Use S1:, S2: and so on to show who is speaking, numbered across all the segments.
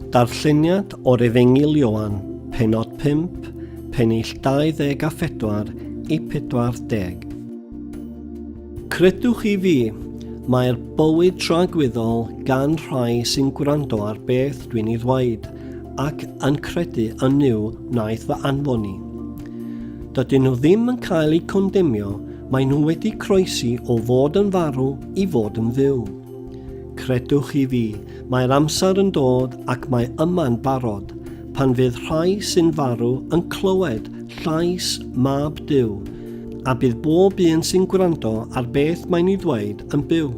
S1: Darlleniad o'r Efengyl Ioan, penod 5, pennill 24 i 40. Credwch i fi, mae'r bywyd tragwyddol gan rhai sy'n gwrando ar beth dwi'n ei ddweud ac yn credu yn yw wnaeth fy anfon i. Dydyn nhw ddim yn cael eu condemnio, maen nhw wedi croesi o fod yn farw i fod yn fyw. Credwch chi fi, mae'r amser yn dod ac mae yma'n barod, pan fydd rhai sy'n farw yn clywed llais Mab Duw, a bydd bob un sy'n gwrando ar beth mae'n ei ddweud yn byw.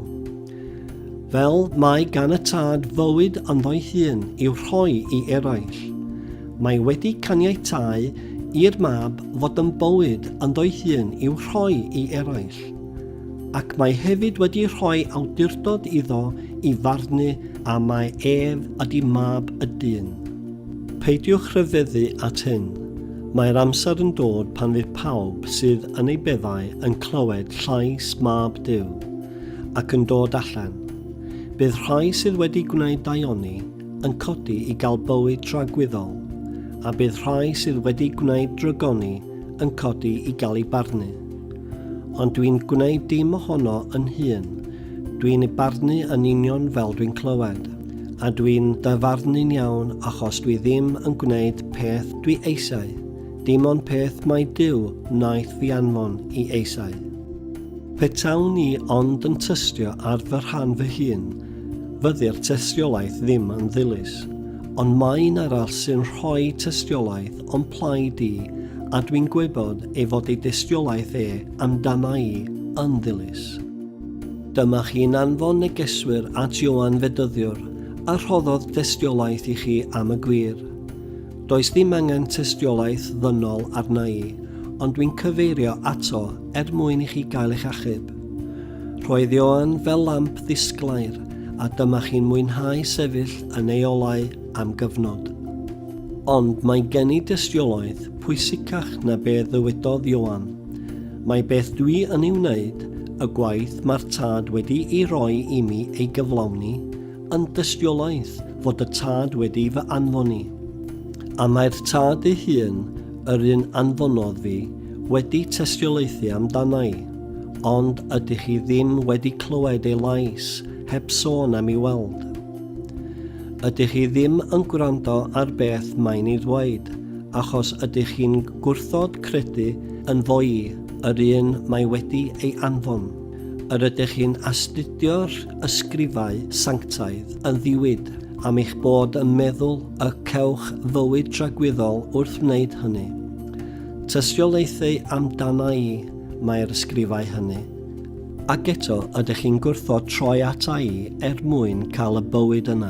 S1: Fel mae gan y tad fywyd ynddo'i hun i'w rhoi i eraill. Mae wedi caniatáu i'r mab fod yn bywyd ynddo'i hun i'w rhoi i eraill. ac mae hefyd wedi rhoi awdurdod iddo i farnu a mae ef ydi mab y dyn. Peidiwch rhyfeddu at hyn. Mae'r amser yn dod pan fydd pawb sydd yn ei beddau yn clywed llais mab Duw ac yn dod allan. Bydd rhai sydd wedi gwneud daioni yn codi i gael bywyd tragwyddol, a bydd rhai sydd wedi gwneud drygoni yn codi i gael ei barnu. Ond dwi'n gwneud dim ohono yn hun. Dwi'n ei barnu yn union fel dwi'n clywed. A dwi'n dyfarnu'n iawn achos dwi ddim yn gwneud peth dwi eisiau, dim ond peth mai Duw wnaeth fi anfon i eisiau. Petawn i ond yn tystio ar fy rhan fy hun, fyddi'r tystiolaeth ddim yn ddilys. Ond mae un arall sy'n rhoi tystiolaeth o'n plaid i, a dwi'n gwybod ei fod ei dystiolaeth e amdana i yn ddilys. Dyma chi'n anfon negeswyr at Ioan Fedyddiwr, a rhoddodd dystiolaeth i chi am y gwir. Does ddim angen tystiolaeth ddynol arna i, ond dwi'n cyfeirio ato er mwyn i chi gael eich achub. Roedd Ioan fel lamp ddisglair, a dyma chi'n mwynhau sefyll yn ei olau am gyfnod. Ond mae gen i dystiolaeth pwysicach na be ddywedodd Ioan. Mae beth dwi yn ei wneud, y gwaith mae'r Tad wedi'i roi i mi ei gyflawni, yn dystiolaeth fod y Tad wedi fy anfon i. A mae'r Tad ei hun, yr un anfonodd fi, wedi tystiolaethu amdana i. Ond ydych chi ddim wedi clywed ei lais, heb sôn am ei weld. Ydych chi ddim yn gwrando ar beth mae'n ei ddweud, achos ydych chi'n gwrthod credu ynddo'i, yr un mae wedi ei anfon. Yr ydych chi'n astudio'r ysgrifau sanctaidd yn ddiwyd, am eich bod yn meddwl y cewch fywyd tragwyddol wrth wneud hynny. Tystiolaethau amdana i mae'r ysgrifau hynny. Ac eto, ydych chi'n gwrthod troi ata i er mwyn cael y bywyd yna?